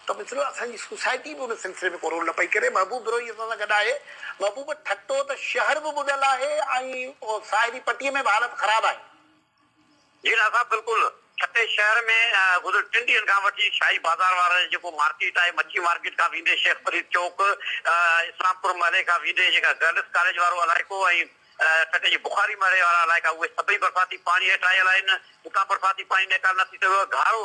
ته مترو اسان جي سوسائٽي به ان سلسلي ۾ ڪو رول نه پئي ڪري، محبوب بروهي اسان سان گڏ آهي، محبوب ٺٽو ته شهر به ٻڏل آهي ۽ ساحلي پٽي ۾ به حالت خراب آهي. جي نا صاحب بلڪل ٺٽي شهر ۾ گذريل ٽن ڏينهن کان وٺي شاهي بازار وارو جيڪو مارڪيٽ آهي مڇي مارڪيٽ کان ويندي شيخ فريد چوڪ، اسلام پور محلي کان ويندي جيڪا گرلس ڪاليج وارو علائقو ۽ سٽ جي بخاري مهڙي وارا علائقا اهي سڀئي برساتي پاڻي هيٺ آيل آهن، اتان برساتي پاڻي نيڪال نه ٿي سگهيو آهي، گهارو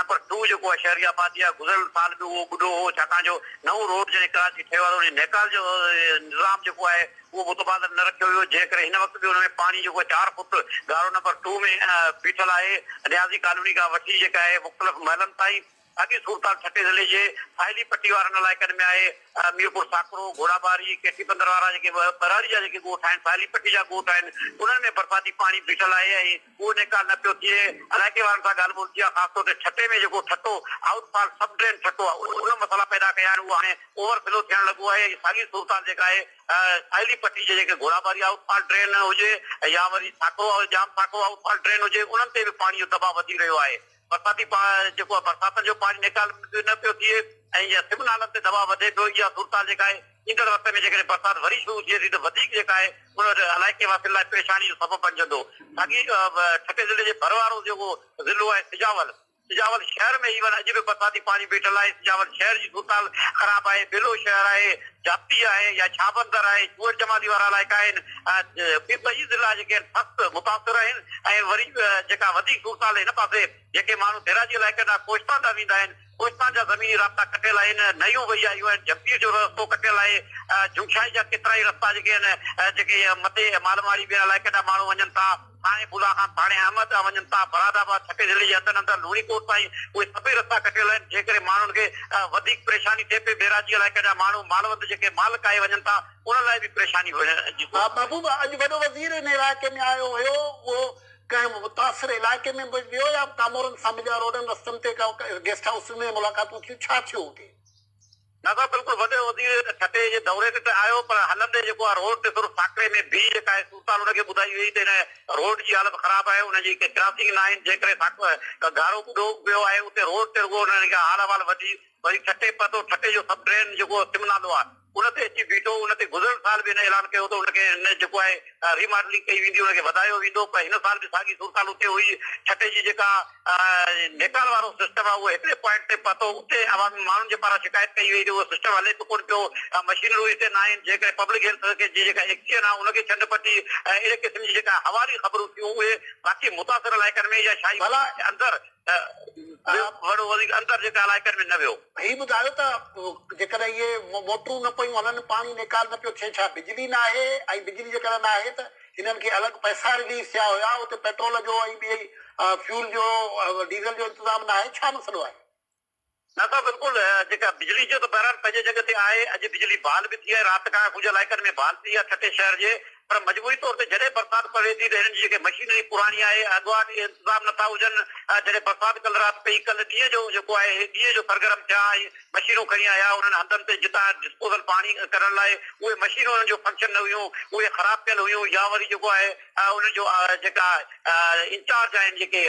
نمبر ٽو جيڪو آهي شهري آبادي آهي، گذريل سال به اهو ٻڏو هو، ڇاڪاڻ جو نئون روڊ جڏهن ڪراچي ٺهيو آهي ته انهي نيڪال جو نظام جيڪو آهي اهو متبادل نه رکيو ويو، جنهن ڪري هن وقت به ان ۾ پاڻي جيڪو آهي چار فوٽ گهارو نمبر ٽو ۾ بيٺل آهي، نيازي ڪالوني کان وٺي جيڪا آهي مختلف محلن تائين. ساڳي صورتحال ٺٽي ضلعي جي ساحلي پٽي وارن علائقن ۾ آهي. ميرپور ساڪرو، گهوڙا ٻاري، ڪيٺي پندر وارا جيڪي ٻهراڙي جا جيڪي ڳوٺ آهن، ساحلي پٽي جا ڳوٺ آهن، انهن ۾ برساتي پاڻي بيٺل آهي ۽ اهو نيڪال نه پيو ٿئي. علائقي وارن سان ڳالهه ٻولهه ٿي آهي، خاص طور تي ٺٽي ۾ جيڪو Thatta outfall sub drain Thatta آهي، ان مسئلا پيدا ڪيا آهن، اهو هاڻي اوور فلو ٿيڻ لڳو آهي ۽ ساڳي صورتحال جيڪا آهي ساحلي پٽي جي جيڪي گهوڙا ٻاري آئوٽ فال ڊرين هجي يا وري Sakro Jam Sakro outfall drain هجي، انهن تي به پاڻي جو دٻاء وڌي رهيو آهي. برساتي پا جيڪو آهي برساتن جو پاڻي نيڪال به نه پيو ٿئي ۽ يا سم نالن تي دٻاء وڌي پيو اها صورتحال جيڪا آهي ايندڙ وقت ۾ جيڪڏهن برسات وري شروع ٿئي ٿي ته وڌيڪ جيڪا آهي ان علائقي واسين لاء پريشاني جو سبب بڻجندو ساڳي ٺٽي ضلعي جي ڀر وارو جيڪو ضلعو آهي سجاول سجاول شهر ۾ ايون اڄ به برساتي پاڻي بيٺل آهي سجاول شهر جي صورتحال خراب آهي ٻيلو شهر آهي جاتي آهي يا ڇاڀنتر آهي جوئڙ جمالي وارا علائقا آهن اهي ٻئي ضلعا جيڪي آهن سخت متاثر آهن ۽ وري جيڪا وڌيڪ صورتحال هن پاسي جيڪي ماڻهو سيراجي علائقن ڏانهن ڪوهستان ڏانهن ويندا آهن ڪوهستان جا زميني رابطا ڪٽيل آهن نئيون وهي آيون آهن جهمپير جو رستو ڪٽيل آهي جهونشاهي جا ڪيترائي رستا جيڪي آهن جيڪي مٿي مالماڙي ٻين علائقن ڏانهن ماڻهو وڃن ٿا. ٿاڻي ڦولا کان ٿاڻي احمد ڏانهن وڃن ٿا. مراد آباد ٺٽي ضلعي جي حدن اندر لوڻي ڪوٽ تائين اهي سڀئي رستا ڪٽيل آهن، جنهن ڪري ماڻهن کي وڌيڪ پريشاني ٿئي پئي، بيراجي علائقن جا ماڻهو مالوند جيڪي مال ڪاهي وڃن ٿا، انهن لاء به پريشاني جي صورت آهي. محبوب اڄ وڏو وزير ان علائقي ۾ آيو هيو، اهو ڪنهن متاثر علائقي ۾ به ويو يا ڪامورن سان مليا، روڊن رستن تي ڪا گيسٽ هائوسز ۾ ملاقاتون ٿيون، ڇا ٿيو اتي؟ نه ته بلڪل وڏي وزير ٺٽي جي دوري تي ته آيو پر هلندي جيڪو آ روڊ تي سرف ٽاڪري ۾ بيهي جيڪا آهي صورتحال ان کي ٻڌائي ويئي ته هن روڊ جي حالت خراب آهي ان جي ڪي ڪراسنگ نه آهن جنهن ڪري ساڪو گهارو ٻڏو پيو آهي اتي روڊ تي رڳو ان جيڪا حال احوال وٺي وري ٺٽي پهتو ٺٽي جو سب ڊرين جيڪو سم نالو آهي ان تي اچي بيٺو ان تي گذريل سال به هن اعلان ڪيو ته ان کي هن جيڪو آهي ري ماڊلنگ ڪئي ويندي ان کي وڌايو ويندو پر هن سال به ساڳي صورتحال اتي هئي ڇٽي جي جيڪا نيڪال وارو سسٽم آهي اهو هڪڙي پوائنٽ تي پهتو اتي عوامي ماڻهن جي پاران شڪايت ڪئي وئي ته اهو سسٽم هلي به ڪونه پيو مشينريون اتي ناهن جيڪڏهن پبلڪ هيلٿ جي جيڪا ايڪشن آهي ان کي ڇنڊ پٽي ۽ اهڙي قسم جي جيڪا حوالي خبرون ٿيون اهي باقي متاثر علائقن ۾ يا شاهي محلا اندر ته آپ وڏو وزير اندر جيڪا علائقن ۾ نه ويو. هي ٻڌايو ته جيڪڏهن اهي موٽرون نه پيون هلن، پاڻي نيڪال نه پيو ٿئي ڇا بجلي ناهي ۽ بجلي جيڪڏهن ناهي ته هنن کي الڳ پئسا رليز ٿيا هيا اتي پيٽرول جو ۽ ٻئي فيول جو ڊيزل جو انتظام ناهي ڇا مسئلو آهي. دادا بلڪل جيڪا بجلي جو ته بحرحال پنهنجي جڳھ تي آهي اڄ بجلي بحال به ٿي آهي رات کان ڪجھ علائقن ۾ بحال ٿي آهي ٺٽي شهر جي پر مجموعي طور تي جڏهن برسات پوي ٿي ته هنن جي جيڪي مشينري پراڻي آهي اڳواٽ اهي انتظام نٿا هجن جڏهن برسات ڪل رات پئي ڪل ڏينهن جو جيڪو آهي اهي ڏينهن جو سرگرم ٿيا ۽ مشينون کڻي آيا انهن هنڌن تي جتان ڊسپوزل پاڻي ڪرڻ لاء اهي مشينون انهن جو فنڪشن نه هيون اهي خراب پيل هيون يا وري جيڪو آهي انهن جو جيڪا انچارج آهن جيڪي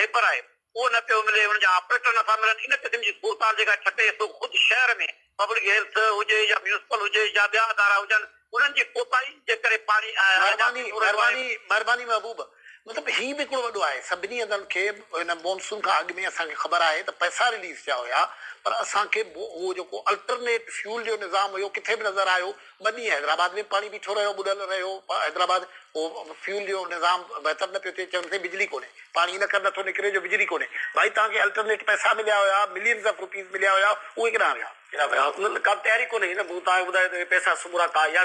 ليبر آهي اهو نه پيو ملي، انهن جا آپريٽر نه ٿا ملن، ان قسم جي صورتحال جيڪا ڇٽي حصو خود شهر ۾ پبلڪ هيلٿ هجي يا ميونسپل هجي يا ٻيا ادارا هجن انهن جي ڪوتاهين جي ڪري پاڻي مھرباني مھرباني مھرباني محبوب مطلب هي به هڪڙو وڏو آهي سڀني هنڌن کي هن مونسون کان اڳ ۾ اسان کي خبر آهي ته پئسا رليز ٿيا هيا پر اسان کي اهو جيڪو الٽرنيٽ فيول جو نظام هيو ڪٿي به نظر آيو ٻه ڏينهن حيدرآباد ۾ به پاڻي بيٺو رهيو، ٻڏل رهيو، حيدرآباد اهو فيول جو نظام بهتر نه پيو ٿئي، چيو سائين بجلي ڪونهي، پاڻي ان ڪري نٿو نڪري جو بجلي ڪونهي، ڀائي توهان کي الٽرنيٽ پئسا مليا هيا، ملينز آف روپيز مليا هيا، اهي ڪيڏانهن ويا؟ ڪيڏانهن ويا، ان لاء ڪا به تياري ڪونهي، هن مون تان کي ٻڌايو ته اهي پئسا سمورا ڪا يا